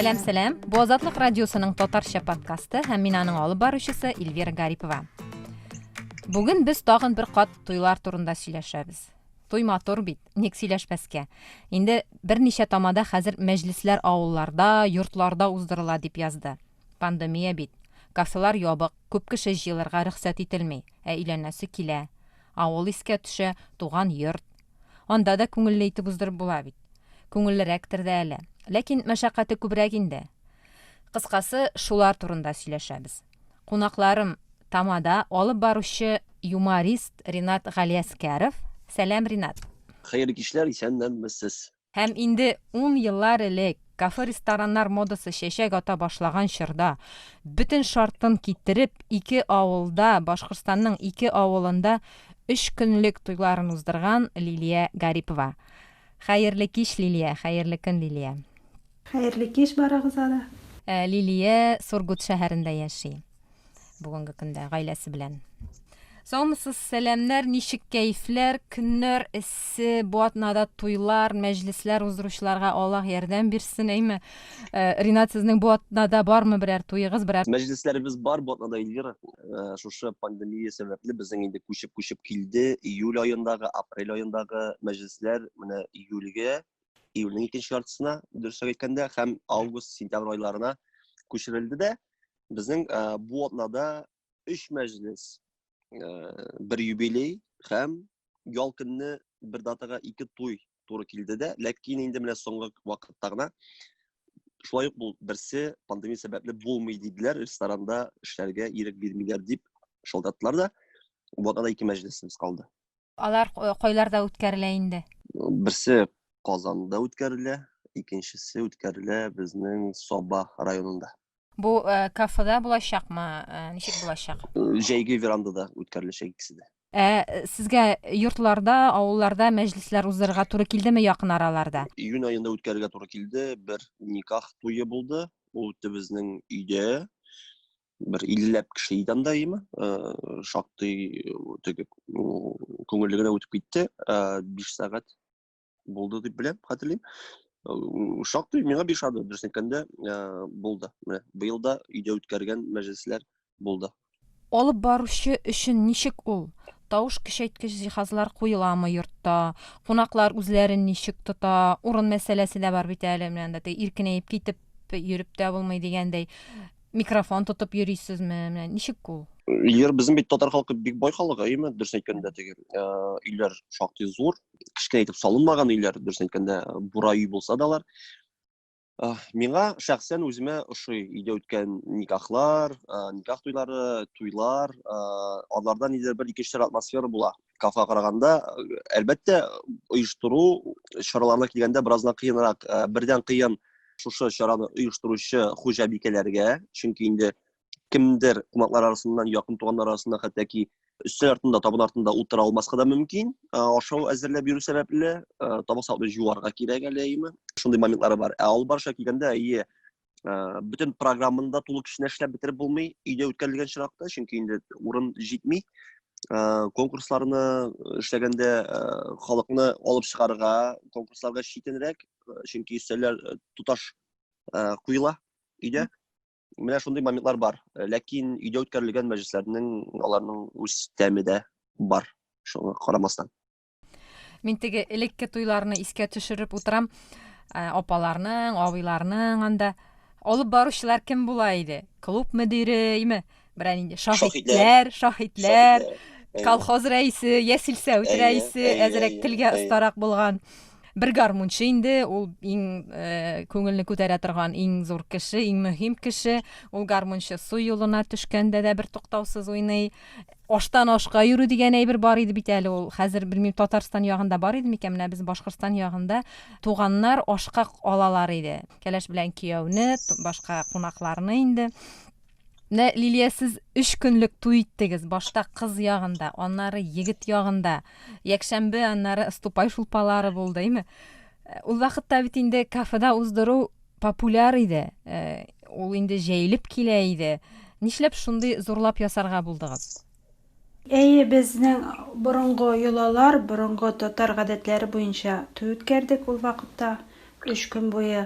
Сәлам, сәлам. Бу Азатлык радиосының татарча подкасты һәм мин аның алып баручысы Эльвира Гарипова. Бүген без тагын бер кат туйлар турында сөйләшәбез. Туй матур бит, ник сөйләшмәскә. Инде берничә тамада хәзер мәҗлесләр авылларда, йортларда уздырыла дип язды. Пандемия бит. Кафелар ябык. Күп кеше җыелырга рөхсәт ителми, ә өйләнәсе килә. Авыл искә төшә, туган йорт. Анда да күңелле итеп уздырып була бит. Күңеллерәктер дә әле. Ләкин мәшәкате күбрәк инде. Кыскасы, шулар турында сөйләшәбез. Кунакларым, тамада алып баручы юморист Ринат Галиәскәров. Сәлам, Ринат! Хәерле кичләр, исәннәнмесез! Һәм инде ун еллар элек, кафе-рестораннар модасы чәчәк ата башлаган чорда, бөтен шартын китереп, ике авылда, Башкортстанның ике авылында өч көнлек туйларын уздырган Лилия Гарипова. Хәерле кич, Лилия! Хәерле көн, Лилия! Хәерле кич барыгызга да! Лилия Сургут шәһәрендә яши. бүгенге көндә гаиләсе белән. Саумысыз, сәламнәр, ничек кәефләр, көннәр эссе, бу атнада туйлар, мәҗлесләр уздыручыларга Аллаһ ярдәм бирсен, әйме. Э, Ринат, сезнең бу атнада бармы берәр туегыз, берәр? Мәҗлесләребез бар бу атнада, Эльвира. Э, шушы пандемия сәбәпле безнең инде күчеп-күчеп килде. Июль аендагы, апрель аендагы мәҗлесләр менә июльгә, июльнең икенче яртысына, дөресрәк әйткәндә, һәм август, сентябрь айларына күчерелде дә. Безнең э, бу атнада өч мәҗлес, э, бер юбилей һәм ял көнне бер датага ике туй туры килде дә, ләкин инде менә соңгы вакытта гына шулай ук бул берсе пандемия сәбәпле булмый диделәр, ресторанда эшләргә ирек бирмиләр дип шалтыраттылар да. Бу атнада ике мәҗлесебез калды. Алар э, кайларда үткәрелә инде? Берсе Казанда үткәрелә, икенчесе үткәрелә безнең Саба районында. Бу э, кафеда булачакмы? Э, ничек булачак? Җәйге верандада үткәреләчәк икесе дә. Ә сезгә йортларда, авылларда мәҗлесләр уздырырга туры килдеме якын араларда? Июнь аенда үткәрергә туры килде. Бер никах туе булды. Ул үтте безнең өйдә. Бер 50 кеше иде анда имы. Шактый теге күңелле генә үтеп китте. 5 сәгать булды дип беләм, хәтерлим. Э, шактый миңа биш ады, дөресен әйткәндә, э, булды. Менә быел да өйдә үткәргән мәҗлесләр булды. Алып баручы өчен ничек ул? Тавыш көчәйткеч җиһазлар куеламы йортта? Кунаклар үзләрен ничек тота? Урын мәсьәләсе дә бар бит әле, менә анда иркенәеп китеп йөреп тә булмый дигәндәй. Микрофон тотып йөрисезме? Менә ничек ул? Егер безнең бит татар халкы бик бай халык, әйеме, дөрес әйткәндә теге, э, өйләр шактый зур, кечкенә итеп салынмаган өйләр дөрес әйткәндә бура өй булса да алар миңа шәхсән үземә ошый өйдә үткән никахлар никах туйлары туйлар аларда нидер бер икенче атмосфера була кафега караганда әлбәттә оештыру чараларына килгәндә бераздан кыенрак бердән кыен шушы чараны оештыручы хуҗабикәләргә чөнки инде кемдер кунаклар арасыннан якын туганнар арасында хәтта ки өстәл артында табын артында утыра алмаска да мөмкин ашау әзерләп йөрү сәбәпле табак сабны җуарга кирәк әле әйеме шундый моментлары бар ә алып барышка килгәндә әйе бөтен программаны да тулы көченә эшләп бетереп булмый өйдә үткәрелгән чиракта чөнки инде урын җитми конкурсларны эшләгәндә халыкны алып чыгарга конкурсларга читенрәк чөнки өстәлләр тоташ куела өйдә менә шундый моментлар бар э, ләкин өйдә үткәрелгән мәҗлесләрнең аларның үз тәме дә бар шуңа карамастан мин теге элекке туйларны искә төшереп утырам э, апаларның абыйларның анда алып баручылар кем була иде клуб мөдиреме берәр инде шаһитләр шаһитләр колхоз рәисе йә силсәвит рәисе әзерәк телгә остарак булган бер гармунчы инде ул иң э, күңелне күтәрә торган иң зур кеше иң мөһим кеше ул гармунчы су юлына төшкәндә дә бер туктаусыз уйный аштан ашка йөрү дигән әйбер бар иде бит әле ул хәзер белмим татарстан ягында бар иде микән менә без башкортстан ягында туганнар ашка алалар иде кәләш белән кияүне башка кунакларны инде Менә Лилия сез 3 көнлек туй иттегез. Башта кыз ягында, аннары егет ягында. Якшәмбе, аннары ступай шулпалары булды, әйме? Э, ул вакытта бит инде кафеда уздыру популяр иде. Э, ул инде җәелеп килә иде. Нишләп шундый зурлап ясарга булдыгыз? Әйе, безнең борынгы йолалар, борынгы татар гадәтләре буенча туй үткәрдек ул вакытта, өч көн буе.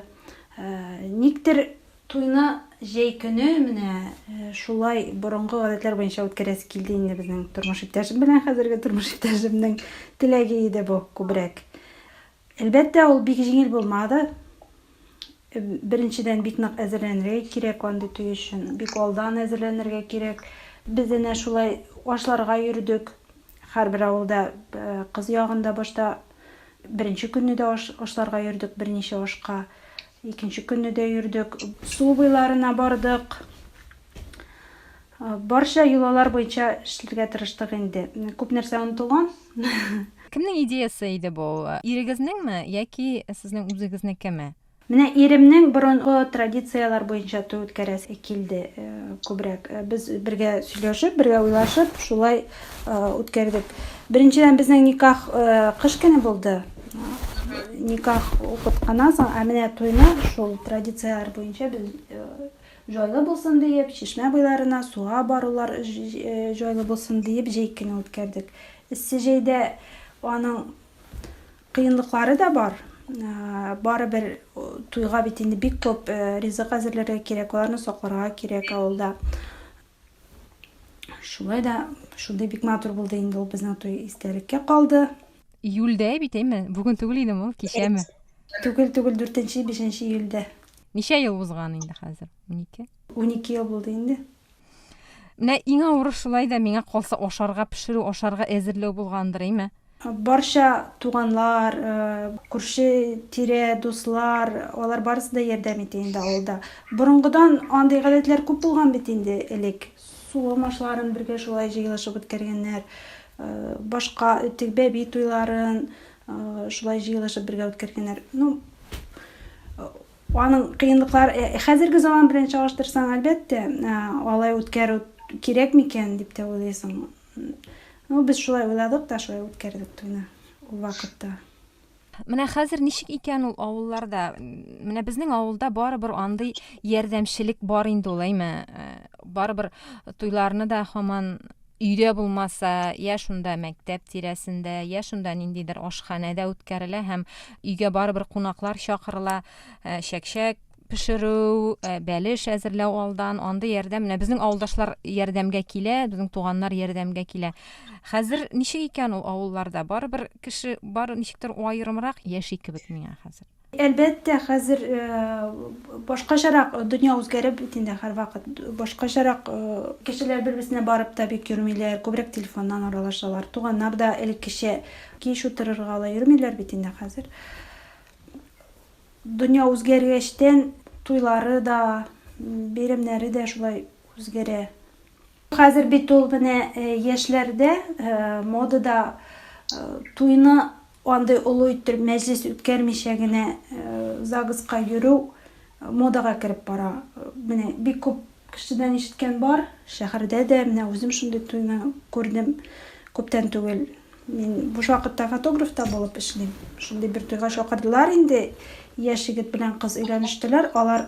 Никтер туйны җәй көне менә шулай борынгы гадәтләр буенча үткәрәсе килде инде безнең тормыш иптәшем белән, хәзерге тормыш иптәшемнең теләге иде бу күбрәк. Әлбәттә, ул бик җиңел булмады. Беренчедән, бик нык әзерләнергә кирәк андый туй өчен. Бик алдан әзерләнергә кирәк. Без әнә шулай ашларга йөрдек. Һәрбер авылда, кыз ягында башта беренче көнне дә ашларга йөрдек, берничә ашка. Икенче көнне дә йөрдек. Су буйларына бардык. Барча йолалар буенча эшләргә тырыштык инде. Күп нәрсә онытылган. Кемнең идеясе иде бу? Ирегезнеңме яки сезнең үзегезнекеме? Менә иремнең борынгы традицияләр буенча туй үткәрәсе килде күбрәк. Без бергә сөйләшеп, бергә уйлашып, шулай үткәрдек. Беренчедән, безнең никах кыш көне булды. Никах укып кына соң, ә менә туйны шул традицияләр буенча без Җайлы булсын диеп, чишмә буйларына суга барулар җайлы булсын диеп җәй көне үткәрдек. Эссе җәйдә аның кыенлыклары да бар. Барыбер туйга бит инде бик күп ризык әзерләргә кирәк, аларны сакларга кирәк авылда. Шулай да шундый бик матур булды инде ул безнең туй истәлеккә калды. Июльдә бит, әйме? Бүген түгел идеме ул, кичәме? Түгел, түгел, дүртенче, бишенче июльдә. Ничә ел узган инде хәзер? Унике? Унике ел булды инде. Менә иң авыры шулай да миңа калса ашарга пешерү, ашарга әзерләү булгандыр, әйме? Барча туганлар, э, күрше тирә, дуслар, алар барысы да ярдәм итә инде авылда. Борынгыдан андый гадәтләр күп булган бит инде элек. Су алмашларын бергә шулай җыелышып үткәргәннәр. Э, башка теге бәби туйларын, Шулай җыелышып бергә үткәргәннәр. Ну, аның кыенлыклар э, хәзерге заман белән чагыштырсаң, әлбәттә, э, алай үткәрү кирәк микән дип тә уйлыйсың. Ну, без шулай уйладык та, шулай үткәрдек туйны ул вакытта. Менә хәзер ничек икән ул авылларда? Менә безнең авылда барыбер андый ярдәмчелек бар инде ул, әйме. Э, барыбер туйларны да һаман өйдә булмаса, я шунда мәктәп тирәсендә, я шунда ниндидер ашханәдә үткәрелә һәм өйгә барыбер кунаклар чакырыла, э, чәкчәк пешерү, э, бәлеш әзерләү алдан, андый ярдәм. Менә безнең авылдашлар ярдәмгә килә, безнең туганнар ярдәмгә килә. Хәзер ничек икән ул авылларда? Барыбер кеше бары ничектер аерымрак яши кебек миңа хәзер. Әлбәттә, хәзер башкачарак, дөнья үзгәреп бит инде һәрвакыт, башкачарак. Кешеләр бер-берсенә барып та бик йөрмиләр, күбрәк телефоннан аралашалар. Туганнар да элеккечә кич утырырга ала йөрмиләр бит инде хәзер. Дөнья үзгәргәчтән, туйлары да, бәйрәмнәре дә шулай үзгәрә. Хәзер бит ул менә яшьләрдә модада туйны Андый олы иттереп мәҗлес үткәрмичә генә ЗАГСка йөрү модага кереп бара. Менә бик күп кешедән ишеткән бар, шәһәрдә дә, менә үзем шундый туйны күрдем күптән түгел. Мин буш вакытта фотограф та булып эшлим. Шундый бер туйга чакырдылар инде, яшь егет белән кыз өйләнештеләр. Алар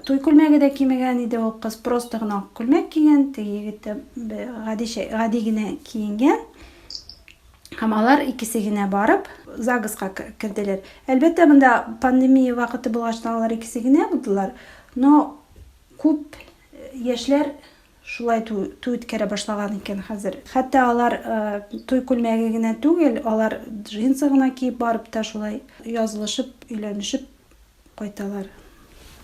туй күлмәге дә кимегән иде, ул кыз просто гына ак күлмәк кигән, теге егет тә гадичә, гади генә киенгән. Һәм алар икесе генә барып, ЗАГСка керделәр. Әлбәттә, монда пандемия вакыты булгачтан алар икесе генә булдылар, но күп яшьләр шулай туй үткәрә башлаган икән хәзер. Хәтта алар туй күлмәге генә түгел, алар джинсы гына киеп барып та шулай язылышып, өйләнешеп кайталар.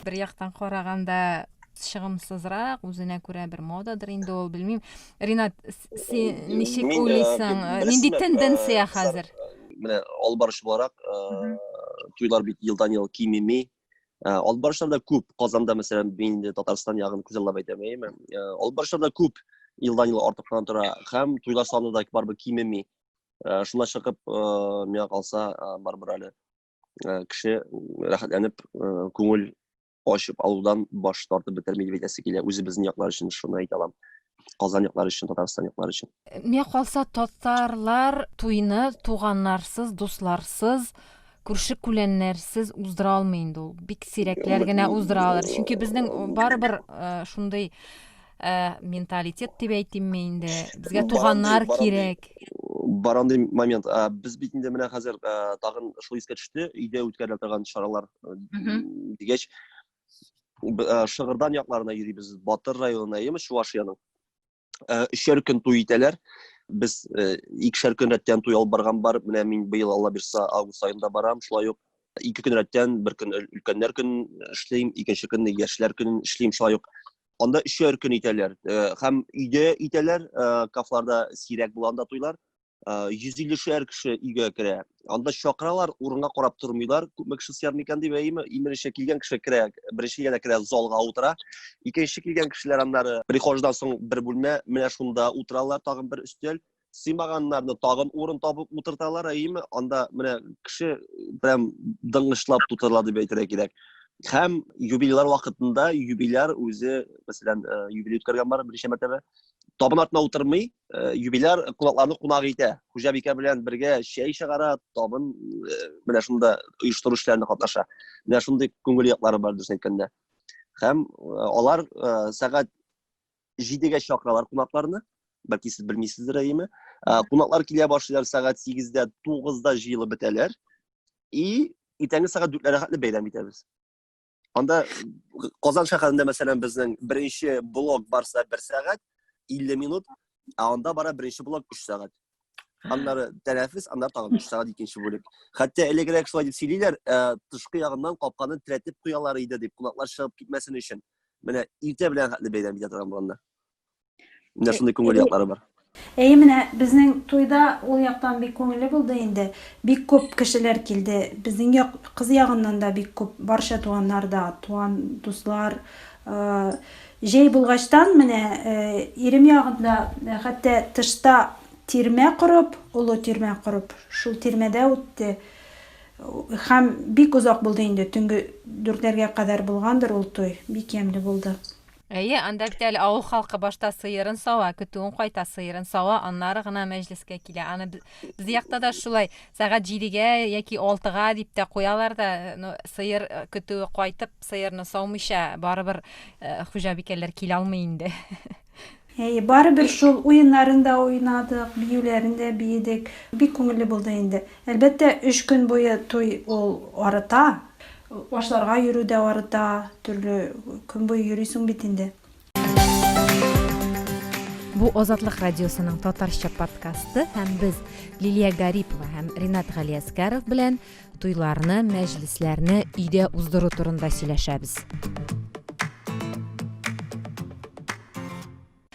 Бер яктан караганда чыгымсызрак, үзенә күрә бер модадыр инде ул, белмим. Ринат, син ничек э, уйлыйсың? Э, нинди э, тенденция хәзер? Менә алып баручы буларак, туйлар бит елдан-ел кимеми. Алып баручылар да күп. Казанда, мәсәлән, мин инде Татарстан ягын күзаллап әйтәм, әйеме? Алып баручылар да күп, елдан-ел артып кына тора. Һәм туйлар саны да барыбер кимеми. Шунда чыгып, миңа калса, барыбер әле ә, кеше рәхәтләнеп ә, күңел ачып алудан баш тартып бетерми дип әйтәсе килә үзебезнең яклар өчен шуны әйтә аламын Казан яклары өчен, Татарстан яклары өчен. Мә калса татарлар туйны туганнарсыз, дусларсыз, күрше күләннәрсез уздыра алмый инде ул. Бик сирәкләр генә уздыра алар. Чөнки безнең барыбер э, шундый Э, менталитет дип әйтимме инде безгә туганнар кирәк бар андый момент ә, без бит инде менә хәзер ә, тагын шул искә төште өйдә үткәрелә торган чаралар дигәч шыгырдан якларына йөрибез батыр районына яме чувашияның өчәр көн туй итәләр без икешәр көн рәттән туй алып барган бар менә мин быел алла бирса август аенда барам шулай ук ике көн рәттән бер көн өлкәннәр көнен эшлим икенче көнне яшьләр көнен эшлим шулай ук Анда өчәр көн итәләр. Һәм өйдә итәләр, кафларда сирәк була анда туйлар. 150-шәр кеше өйгә керә. Анда чакыралар, урынга карап тормыйлар. Күпме кеше сыяр микән дип, әйеме? Иминчә килгән кеше керә, беренче генә керә, залга утыра. Икенче килгән кешеләр аннары прихождан соң бер бүлмә, менә шунда утыралар, тагын бер өстәл. сыймаганнарны тагын урын табып утырталар, әйеме? Анда менә кеше прям дыңгышлап тутырыла дип әйтергә кирәк. Һәм юбилейлар вакытында юбиляр үзе, мәсәлән, э, юбилей үткәргән бар берничә мәртәбә, табын артына утырмый, э, юбиляр кунакларны кунак итә. Хуҗабикә белән бергә чәй чыгара, табын э, менә шунда оештыру эшләрендә катнаша. Менә шундый күңел яклары бар дөрес әйткәндә. Һәм алар сәгать җидегә чакыралар кунакларны бәлки сез белмисездер әйеме ә, кунаклар килә башлыйлар сәгать сигездә тугызда җыелып бетәләр и иртәнге сәгать дүртләргә хәтле бәйрәм итәбез анда казан шәһәрендә мәсәлән безнең беренче блок барса бер сәгать илле минут ә анда бара беренче блок өч сәгать аннары тәнәфес аннары тагын өч сәгать икенче бүлек хәтта элегрәк шулай дип сөйлиләр ә, тышкы ягыннан капканы терәтеп куялар иде дип кунаклар чыгып китмәсен өчен менә иртә белән хәтле бәйрәм итә торган боланда менә шундый күңел яклары бар Әйе, менә безнең туйда ул яктан бик күңелле булды инде. Бик күп кешеләр килде. Безнең як, кыз ягыннан да бик күп, барча туганнар да, туган дуслар, э, Җәй булгачтан, менә ирем ягында, хәтта тышта тирмә корып, олы тирмә корып, шул тирмәдә үтте. Һәм бик озак булды инде, төнге дүртләргә кадәр булгандыр ул туй, бик ямьле булды. Әйе, анда бит әле авыл халкы башта сыерын сава, көтүен кайта, сыерын сава, аннары гына мәҗлескә килә. Аны Безнең якта да шулай, сәгать җидегә яки алтыга дип тә куялар да, ну, сыер э, көтүе кайтып, сыерны саумыйча, барыбер э, хуҗабикәләр килә алмый инде. Әйе, барыбер шул уеннарын да уйнадык, биюләрен дә биедек. Бик күңелле булды инде. Әлбәттә, өч көн буе туй ул арыта. Ашларга йөрү дә арыта, төрле көн буе йөрисең бит инде. Бу Азатлык радиосының татарча подкасты һәм без Лилия Гарипова һәм Ринат Галиәскәров белән туйларны, мәҗлесләрне өйдә уздыру турында сөйләшәбез.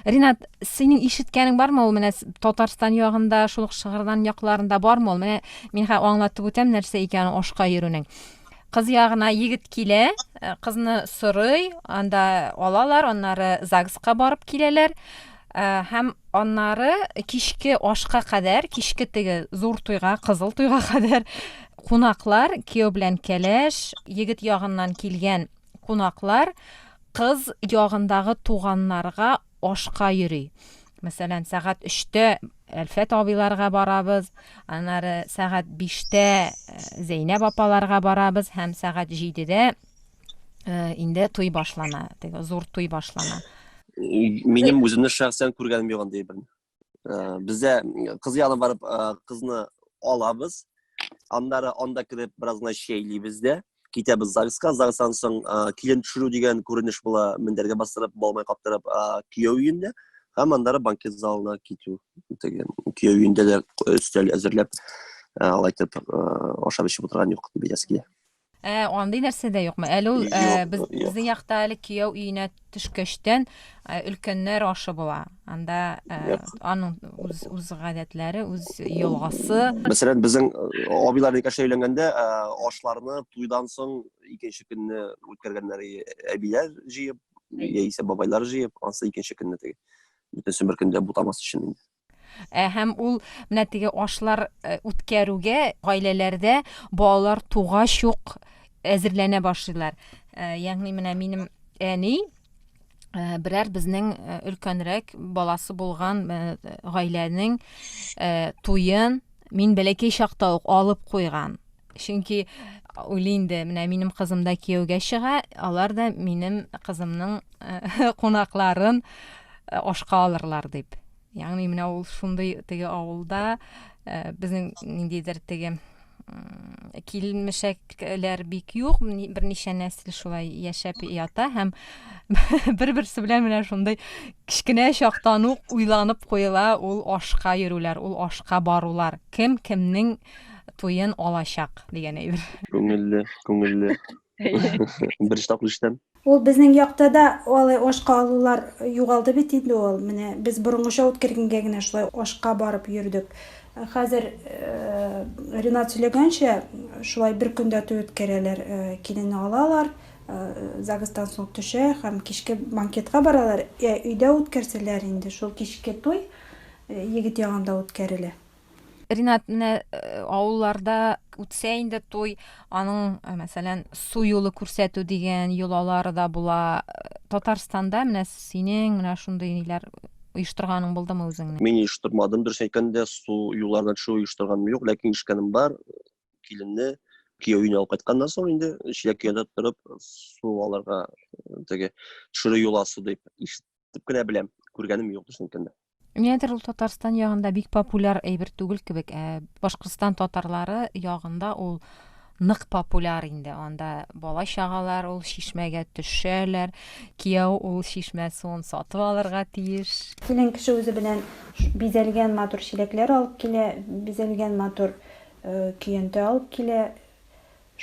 Ринат, синең ишеткәнең бармы ул менә Татарстан ягында, шул ук Шыгырдан якларында бармы ул? Менә мин хә аңлатып үтәм нәрсә икәнен ашка йөрүнең. Кыз ягына егет килә, э, кызны сорый, анда алалар, аннары ЗАГСка барып киләләр. Э, һәм аннары кичке ашка кадәр, кичке теге зур туйга, кызыл туйга кадәр кунаклар, кияү белән кәләш, егет ягыннан килгән кунаклар кыз ягындагы туганнарга ашка йөри. Мәсәлән, сәгать өчтә Әлфәт абыйларга барабыз, аннары сәгать биштә э, Зәйнәб апаларга барабыз һәм сәгать җидедә э, инде туй башлана, теге зур туй башлана. Минем үземне шәхсән күргәнем юк андый берни. Бездә кыз ягына барып кызны алабыз. Аннары анда кереп бераз гына чәйлибез дә, китәбез ЗАГСка. ЗАГСтан соң килен төшерү дигән күренеш була, мендәргә бастырып, балмай каптырып кияү өендә һәм аннары банкет залына китү. Теге кияү өендә дә өстәл әзерләп, алайтып ашап эчеп утырган юк, дип әйтәсе килә. Ә андый нәрсә дә юкмы? Әле ул э, Юк, без, юк. безнең якта әле кияү өенә төшкәчтән э, өлкәннәр ашы була. Анда э, Юк. аның үз, үз гадәтләре, үз елгасы. Мәсәлән, безнең э, абыйлар никәшә өйләнгәндә э, ашларны туйдан соң икенче көнне үткәргәннәр и- әбиләр җыеп, яисә бабайлар җыеп, ансы икенче көнне теге. Бөтенсен бер көндә бутамас өчен инде. Ә һәм ул менә теге ашлар э, үткәрүгә гаиләләрдә балалар тугач ук әзерләнә башлыйлар. Э, ягъни менә минем әни э, берәр безнең өлкәнрәк баласы булган гаиләнең туен мин бәләкәй чакта ук алып куйган. Чөнки уйлый инде, менә минем кызым да кияүгә чыга, алар да минем кызымның кунакларын ашка алырлар дип ягъни менә ул шундый теге авылда безнең ниндидер теге килмешәкләр бик юк берничә нәсел шулай яшәп ята һәм бер берсе белән менә шундый кечкенә чактан ук уйланып куела ул ашка йөрүләр ул ашка барулар кем кемнең туен алачак дигән әйбер күңелле күңелле Беренче тапкыр ишетәм. Ул безнең якта да алай ашка алулар югалды бит инде ул. Менә без борынгыча үткәргәнгә генә шулай ашка барып йөрдек. Хәзер Ренат сөйләгәнчә, шулай бер көндә туй үткәрәләр, киленне алалар, загстан соң төшә һәм кичке банкетка баралар. Ә өйдә үткәрсәләр инде шул кичке туй егет ягында үткәрелә. Ринат, менә э, авылларда үтсә инде туй, аның, э, мәсәлән, су юлы күрсәтү дигән йолалары да була. Э, Татарстанда менә синең менә шундый ниләр оештырганың булдымы үзеңне? Мин оештырмадым, дөрес әйткәндә, су юлларына төшү оештырганым юк, ләкин ишеткәнем бар, киленне кияү өенә алып кайтканнан соң инде чиләк янында торып су алырга теге төшерү йоласы дип ишетеп кенә беләм, күргәнем юк, дөрес әйткәндә. Нидер ул Татарстан ягында бик популяр әйбер түгел кебек, ә Башкортстан татарлары ягында ул нык популяр инде. Анда бала чагалар ул чишмәгә төшәләр, кияү ул чишмә суын сатып алырга тиеш. Килен кеше үзе белән бизәлгән матур чиләкләр алып килә, бизәлгән матур көянтә алып килә,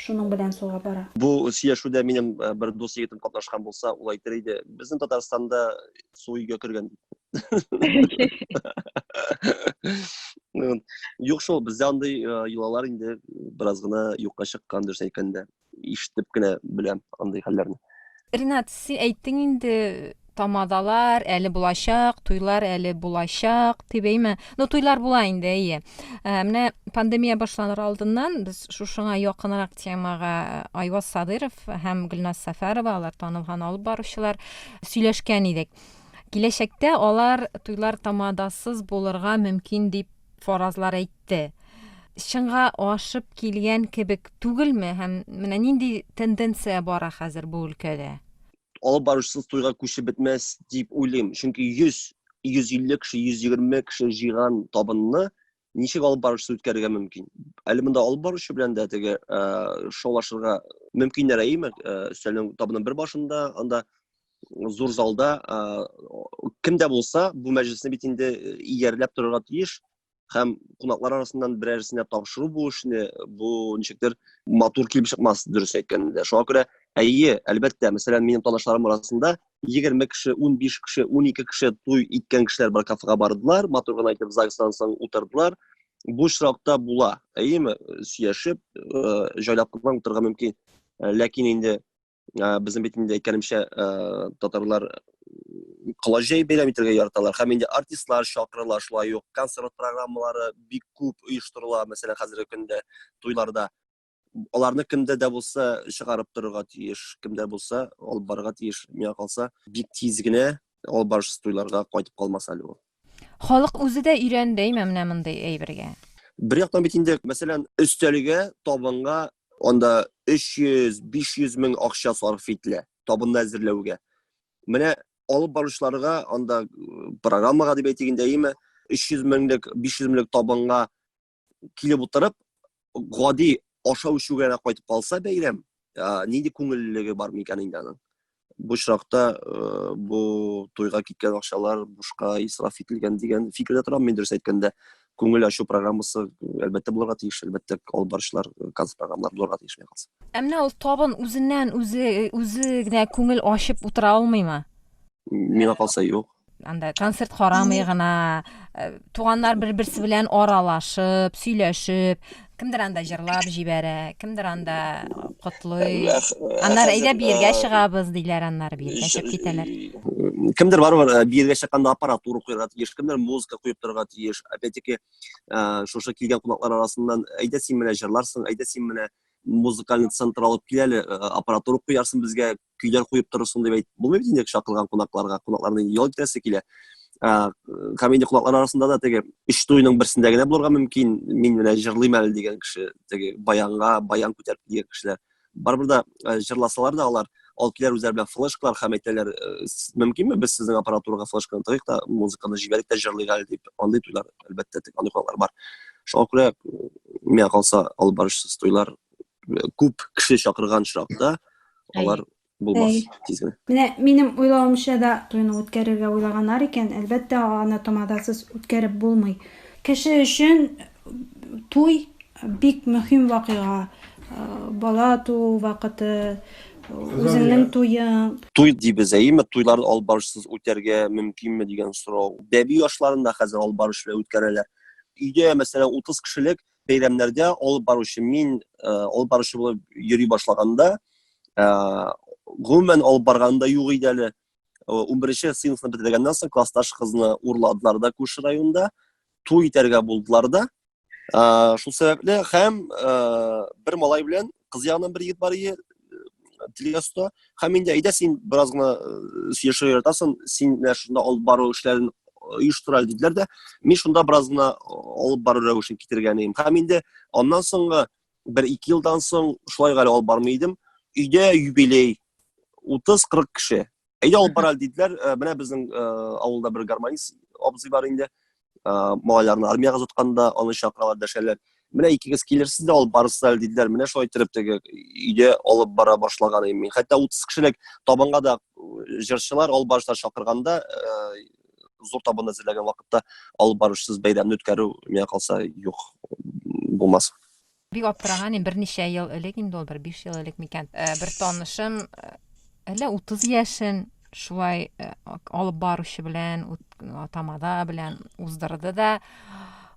Шуның белән суга бара. Бу сөйләшүдә минем бер дус егетем катнашкан булса, ул әйтер иде, безнең Татарстанда су өйгә кергән дип. Юк шул, бездә андый йолалар инде бераз гына юкка чыккан дөрес әйткәндә. Ишетеп кенә беләм андый хәлләрне. Ринат, син әйттең инде, тамадалар әле булачак, туйлар әле булачак, дип әйме? Ну, туйлар була инде, әйе. Ә, менә пандемия башланыр алдыннан без шушыңа якынрак темага э, Айваз Садыров һәм Гөлназ Сәфәрова, алар танылган алып баручылар, сөйләшкән идек. Киләчәктә алар туйлар тамадасыз булырга мөмкин дип фаразлар әйтте. Чынга ашып килгән кебек түгелме һәм менә нинди тенденция бара хәзер бу өлкәдә? Алып баручысыз туйга күчеп бетмәс дип уйлыйм. Чөнки 100, 150 кеше, 120 кеше җыйган табынны ничек алып баручысыз үткәрергә мөмкин? Әле монда алып баручы белән дә теге э, шаулашырга мөмкиннәр әйеме? Э, Өстәлнең табының бер башында, анда зур залда ә, кем дә булса бу мәҗлесне бит инде иярләп торырга тиеш һәм кунаклар арасыннан берәрсенә тапшыру бу эшне бу ничектер матур килеп чыкмас дөрес әйткәндә шуңа күрә әйе әлбәттә мәсәлән минем танышларым арасында егерме кеше унбиш кеше унике кеше туй иткән кешеләр бар кафега бардылар матур гына итеп загстан соң утырдылар бу очракта була әйеме сөяшеп җайлап кына утырырга мөмкин ләкин инде Ә, безнең бит инде әйткәнемчә ә, татарлар коллажей бәйләм итәргә яраталар һәм инде артистлар чакырыла шулай ук концерт программалары бик күп оештырыла мәсәлән хәзерге көндә туйларда аларны кемдә дә булса чыгарып торырга тиеш кемдә булса алып барырга тиеш миңа калса бик тиз генә алып барышсыз туйларга кайтып калмас әле ул Халык үзе дә өйрәнде име менә мондый әйбергә? Бер яктан бит инде, мәсәлән, өстәлгә, табынга анда 300-500 мең акча сарыф ителә, табынны әзерләүгә. Менә алып баручыларга анда программага дип әйтик инде, әйеме, 300 меңлек, 500 меңлек табынга килеп утырып гади ашау эчүгә дә кайтып калса бәйрәм нинди күңеллелеге бар микән инде аның бу очракта э, бу туйга киткән акчалар бушка исраф ителгән дигән фикердә торам мин дөрес әйткәндә күңел ачу программасы әлбәттә булырга тиеш әлбәттә алып баручылар э, концерт программалар булырга тиеш миңа калса ә менә ул табын үзеннән үзе үзе генә күңел ачып утыра алмыймы миңа калса юк анда концерт карамый гына э, туганнар бер берсе белән аралашып сөйләшеп кемдер анда җырлап җибәрә кемдер анда котлый аннары әйдә биергә чыгабыз диләр аннары биергә чыгып китәләр кемдер барыбер э, биергә чыкканда аппаратура куярга тиеш кемдер музыка куеп торырга тиеш опять таки э, шушы килгән кунаклар арасыннан әйдә син менә җырларсың әйдә син менә музыкальный центр алып кил әле аппаратура куярсың безгә көйләр куеп торырсың дип әйтеп булмый бит инде чакырган кунакларга кунакларны инде ял итәсе килә һәм инде кунаклар арасында да теге өч туйның берсендә генә булырга мөмкин мин менә җырлыйм әле дигән кеше теге баянга баян күтәреп дигән кешеләр барыбер да җырласалар да алар алып киләр үзләре белән флешкалар һәм әйтәләр мөмкинме без сезнең аппаратурага флешканы тыгыйк та музыканы җибәрик тә җырлыйк әле дип андый туйлар әлбәттә андый кунаклар бар шуңа күрә миңа калса алып барышсыз туйлар күп кеше чакырган очракта алар булмас тиз генә. Менә минем уйлавымча да туйны үткәрергә уйлаганнар икән, әлбәттә, аны тамадасыз үткәреп булмый. Кеше өчен туй бик мөһим вакыйга. Бала туу вакыты, үзеңнең туең. Туй дибез, әйеме? Туйларны алып барышсыз үтәргә мөмкинме дигән сорау. Бәби ашларын да хәзер алып барыш белән үткәрәләр. Өйдә, мәсәлән, 30 кешелек бәйрәмнәргә алып баручы мин э, алып баручы булып йөри башлаганда э, гомумән алып барганда юк иде әле унберенче сыйныфны бетергәннән соң классташ кызны урладылар да күрше районда туй итәргә булдылар да шул сәбәпле һәм бер малай белән кыз ягыннан бер егет бар иде телегасында һәм инде әйдә син бераз гына сөйләшергә яратасың син менә шунда алып бару эшләрен оештыра диделәр дә мин шунда бераз гына алып бару рәвешен китергән идем һәм инде аннан соңгы бер ике елдан соң шулай гали алып бармый идем өйдә юбилей утыз кырык кеше Әйдә алып барале диделәр. Э, менә безнең э, авылда бер гармонист абзый бар инде. Э, малайларны армиягә озатканда аны чакыралар, дәшәләр. Менә икегез килерсез дә алып барырсыз әле диделәр. Менә шулай итеп теге өйдә алып бара башлаган идем мин. Хәтта 30 кешелек табынга да җырчылар, алып барышлар чакырганда, зур табын әзерләгән вакытта алып барышсыз бәйрәмне үткәрү миңа калса юк булмас. Бик аптыраганим, берничә ел элек инде ул, бер биш ел элек микән, бер танышым, әллә утыз яшен шулай алып баручы белән, тамада белән уздырды да,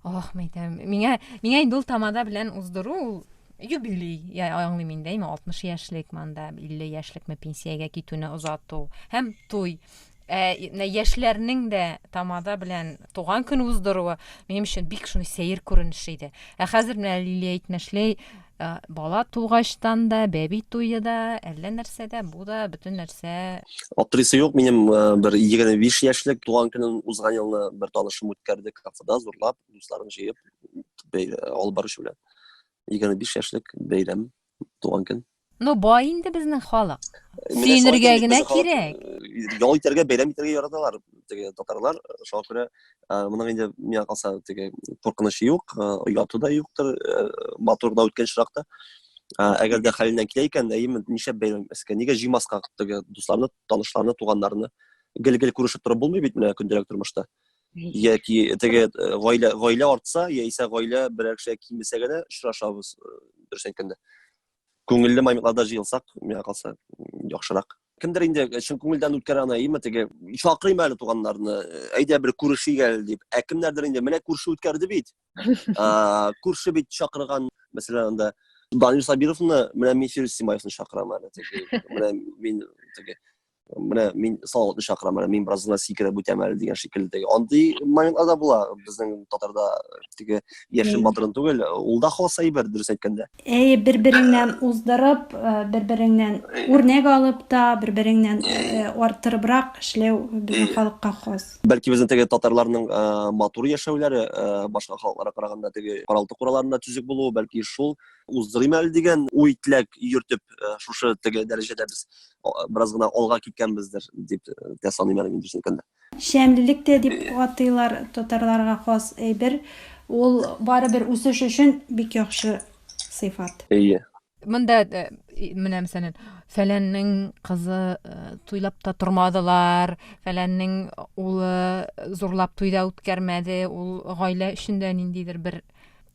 ох, мәйтәм, миңа, миңа инде ул тамада белән уздыру, ул юбилей, я аңлыйм инде, әйме, 60 яшьлек манда, 50 яшьлекме пенсиягә китүне озату һәм туй. Ә менә яшьләрнең дә тамада белән туган көн уздыруы минем өчен бик шундый сәер күренеш иде. Ә хәзер менә Лилия әйтмешли, э, бала тугачтан да, бәби туе да, әллә нәрсә дә, бу да бөтен нәрсә Аптырыйсы юк, минем э, бер 25 яшьлек туган көнен узган елны бер танышым үткәрде кафеда зурлап, дусларын җыеп бәй- алып баручы белән. 25 яшьлек бәйрәм. туган көн. Ну, бай инде безнең халык. Сөенергә генә кирәк. Ял итәргә, бәйрәм итәргә яраталар теге татарлар. Шуңа күрә моның инде миңа калса теге куркынычы юк, ояты да юктыр, матур да үткән чиракта. Әгәр дә хәленнән килә икән, әйеме, ничә бәйрәм искә, нигә җыймаска теге дусларны, танышларны, туганнарны? Гел-гел күрешеп торып булмый бит менә көндәлек тормышта. яки теге гаилә гаилә артса яисә гаилә берәр кешегә кимесә генә очрашабыз дөрес әйткәндә күңелле моментlarda җыелсак миңа калса яхшырак кемдер инде чын күңелдән үткән ана әйеме теге чакырыйм әле туганнарны әйдә бер күрешик әле дип ә кемнәрдер инде менә күрше үткәрде бит күрше бит чакырган мәсәлән анда данил сабировны менә мин фирүз симаевны чакырам әле менә мин теге менә мин салаватны чакырам менә мин бераз гына сикереп үтәм әле дигән шикелле андый моментлар да була безнең татарда теге яшен батырын түгел ул да хас әйбер дөрес әйткәндә әй бер береңнән уздырып бер береңнән үрнәк алып та бер береңнән арттырыбрак эшләү безнең халыкка хас бәлки безнең теге татарларның матур яшәүләре башка халыкларга караганда теге каралты кураларында төзек булуы бәлки шул уздырыйм әле дигән уй теләк йөртеп шушы теге дәрәҗәдә без бераз гына алга киткәнбездер дип тә саныйм әле мин дөресен әйткәндә. Шәмлелек тә дип атыйлар, татарларга хас әйбер. Ул барыбер үсеш өчен бик яхшы сыйфат. Әйе. Монда менә мәсәлән, фәләннең кызы туйлап та тормадылар, фәләннең улы зурлап туй да үткәрмәде, ул гаилә өчен дә ниндидер бер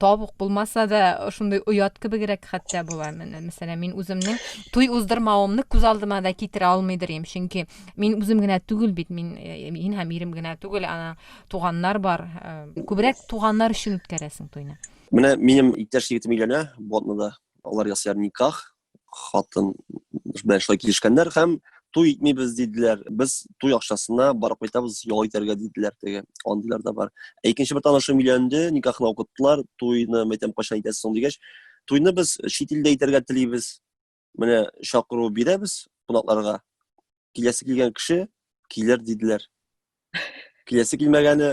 табук булмаса да шундый оят кебегрәк хәтта була менә мәсәлән мин үземнең туй уздырмавымны күз алдыма да китерә алмыйдыр идем чөнки мин үзем генә түгел бит мин э, мин һәм ирем генә түгел ана туганнар бар э, күбрәк туганнар өчен үткәрәсең туйны менә минем иптәш егетем өйләнә болотныйда алар ясыйлар никах хатын белән шулай килешкәннәр һәм туй итмибез диделәр без туй акчасына барып кайтабыз ял итәргә диделәр теге андыйлар да бар ә икенче бер танышым өйләнде никахны укыттылар туйны мәйтәм кайчан итәсез соң дигәч туйны без чит илдә итәргә телибез менә чакыру бирәбез кунакларга киләсе килгән кеше килер диделәр киләсе килмәгәне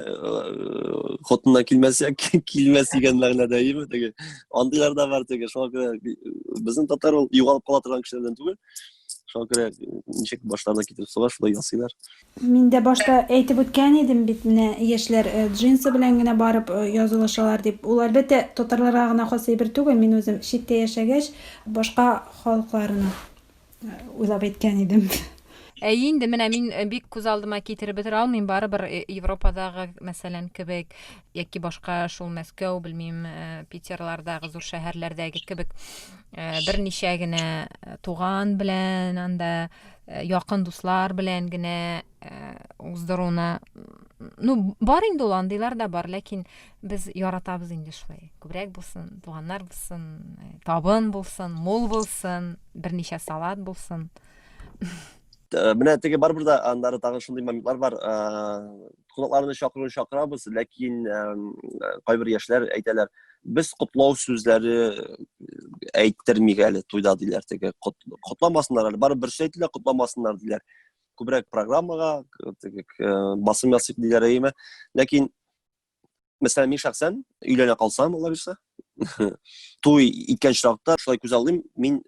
хотыннан килмәсә килмәс дигән мәгънәдә име теге андыйлар да бар теге шуңа күрә безнең татар ул югалып кала торган кешеләрдән түгел шуңа күрә ничек башларына китереп суга шулай ясыйлар мин дә башта әйтеп үткән идем бит менә яшьләр джинсы белән генә барып язылышалар дип ул әлбәттә татарларга гына хас әйбер түгел мин үзем читтә яшәгәч башка халыкларны уйлап әйткән идем. Әй инде менә мин э, бик күз алдыма китереп бетерә алмыйм, барыбер э, Европадагы, мәсәлән, кебек яки башка шул Мәскәү, белмим, э, Питерлардагы зур шәһәрләрдәге кебек берничә генә туган белән, анда якын дуслар белән генә уздыруны ну бар инде ул андыйлар да бар ләкин Без яратабыз инде шулай. Күбрәк булсын, туганнар булсын, э, табын булсын, мул булсын, берничә салат булсын. Э, менә теге барыбер да аннары тагын шундый моментлар бар. Э, кунакларны чакыру чакырабыз, ләкин кайбер яшьләр әйтәләр, без котлау сүзләре әйттермик әле туйда диләр теге. Котламасыннар әле, барыбер шулай әйтелә, котламасыннар диләр. Күбрәк программага теге басым ясыйк диләр әйме. Ләкин мәсәлән мин шәхсән өйләнә калсам алла бирсә туй иткән чакта шулай күз алдыйм мин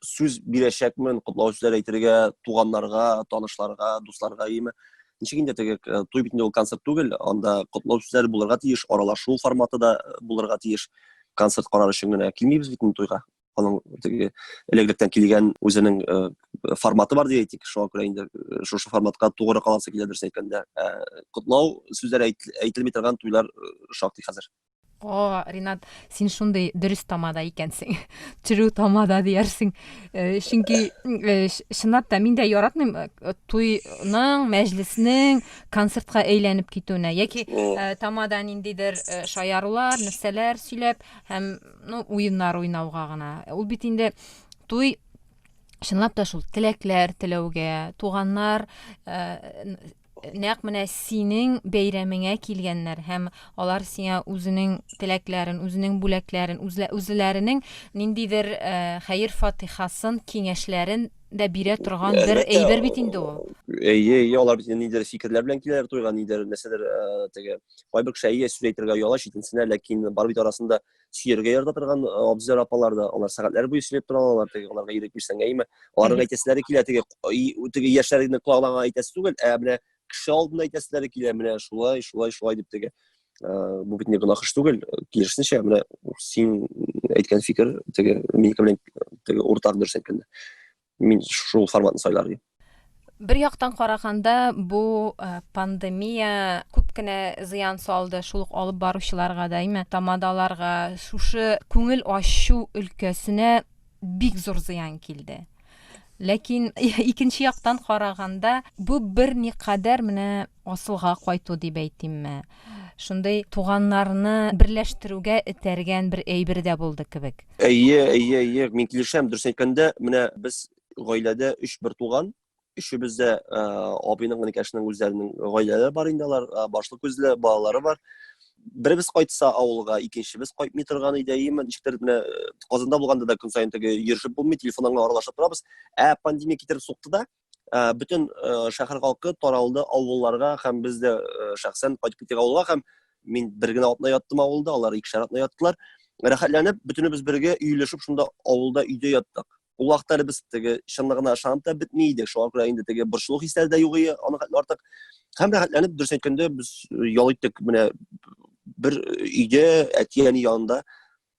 сүз бирәчәкмен котлау сүзләр әйтергә туганнарга танышларга дусларга иеме ничек инде теге э, туй бит инде ул концерт түгел анда котлау сүзләре булырга тиеш аралашу форматы да э, булырга тиеш концерт карар өчен генә килмибез бит инде туйга аның теге элек-электән килгән үзенең э, форматы бар дип әйтик шуңа күрә инде э, шушы форматка тугры каласы килә дөрес әйткәндә э, котлау сүзләре әйтелми торган туйлар шактый хәзер о ринат син шундый дөрес тамада икәнсең true тамада диярсең чөнки чынлап та мин дә яратмыйм туйның мәҗлеснең концертка әйләнеп китүенә яки тамада ниндидер шаярулар нәрсәләр сөйләп һәм Ну, уеннар уйнауга гына. Ул бит инде туй чынлап та шул теләкләр теләүгә, туганнар э, нәкъ менә синең бәйрәмеңә килгәннәр һәм алар сиңа үзенең теләкләрен, үзенең бүләкләрен, үзләренең ниндидер э, хәер фатихасын, киңәшләрен дә бирә торган бер әйбер бит инде ул. Әйе, әйе, алар бит ниндидер фикерләр белән киләләр туйга, ниндидер нәрсәдер э, теге кайбер кеше әйе сүз әйтергә ояла читенсенә ләкин бар бит арасында сөяргә ярата торган э, абзыйлар апалар да алар сәгатьләр буе сөйләп тора алалар теге аларга ирек бирсәң әйеме аларның әйтәселәре килә теге теге яшьләрнең колагына әйтәсе түгел ә менә кеше алдында әйтәселәре килә менә шулай шулай шулай дип теге э, бу бит не гөнаһ эш түгел киресенчә менә син әйткән фикер теге минеке белән теге уртак дөрес әйткәндә Мин шул форматны сайлар идем. Бер яктан караганда, бу э, пандемия күп кенә зыян салды, шул ук алып баручыларга да, әйме, тамадаларга, шушы күңел ачу өлкәсенә бик зур зыян килде. Ләкин икенче яктан караганда, бу бер никадәр менә Асылга кайту дип әйтимме, шундый туганнарны берләштерүгә этәргән бер әйбер дә булды кебек. Әйе, әйе, әйе, мин килешәм. Дөресен әйткәндә, менә без гаиләдә өч бертуган, өчебез дә абыйның, энекәшнең үзләренең гаиләләре бар инде, алар башлы күзле, балалары бар. Беребез кайтса авылга, икенчебез кайтмый торган иде, әйеме, ничектер менә Казанда булганда да көн саен теге йөрешеп булмый, телефоннан гына аралашып торабыз. Ә пандемия китереп сукты да, ә, бөтен ә, шәһәр халкы таралды авылларга һәм без дә ә, шәхсән кайтып киттек авылга һәм мин бер генә атна яттым авылда, алар икешәр атна яттылар. Рәхәтләнеп, бөтенебез бергә өйләшеп шунда авылда өйдә яттык. Ул вакытта без теге чынлыгына ышанып та бетми идек. Шуңа күрә инде теге борчылу хисләре дә юк иде, аны хәтле артык. Һәм рәхәтләнеп, дөрес әйткәндә, без ял иттек менә бер өйдә, әти-әни янында.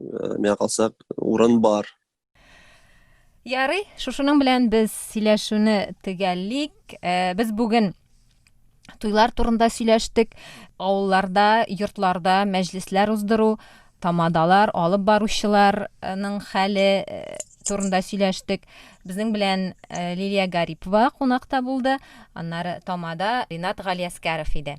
э, миңа калса урын бар ярый шушының белән без сөйләшүне төгәллик э, без бүген туйлар турында сөйләштек авылларда йортларда мәҗлесләр уздыру тамадалар алып баручыларның хәле э, турында сөйләштек безнең белән э, лилия гарипова кунакта булды аннары тамада ринат галиәскәров иде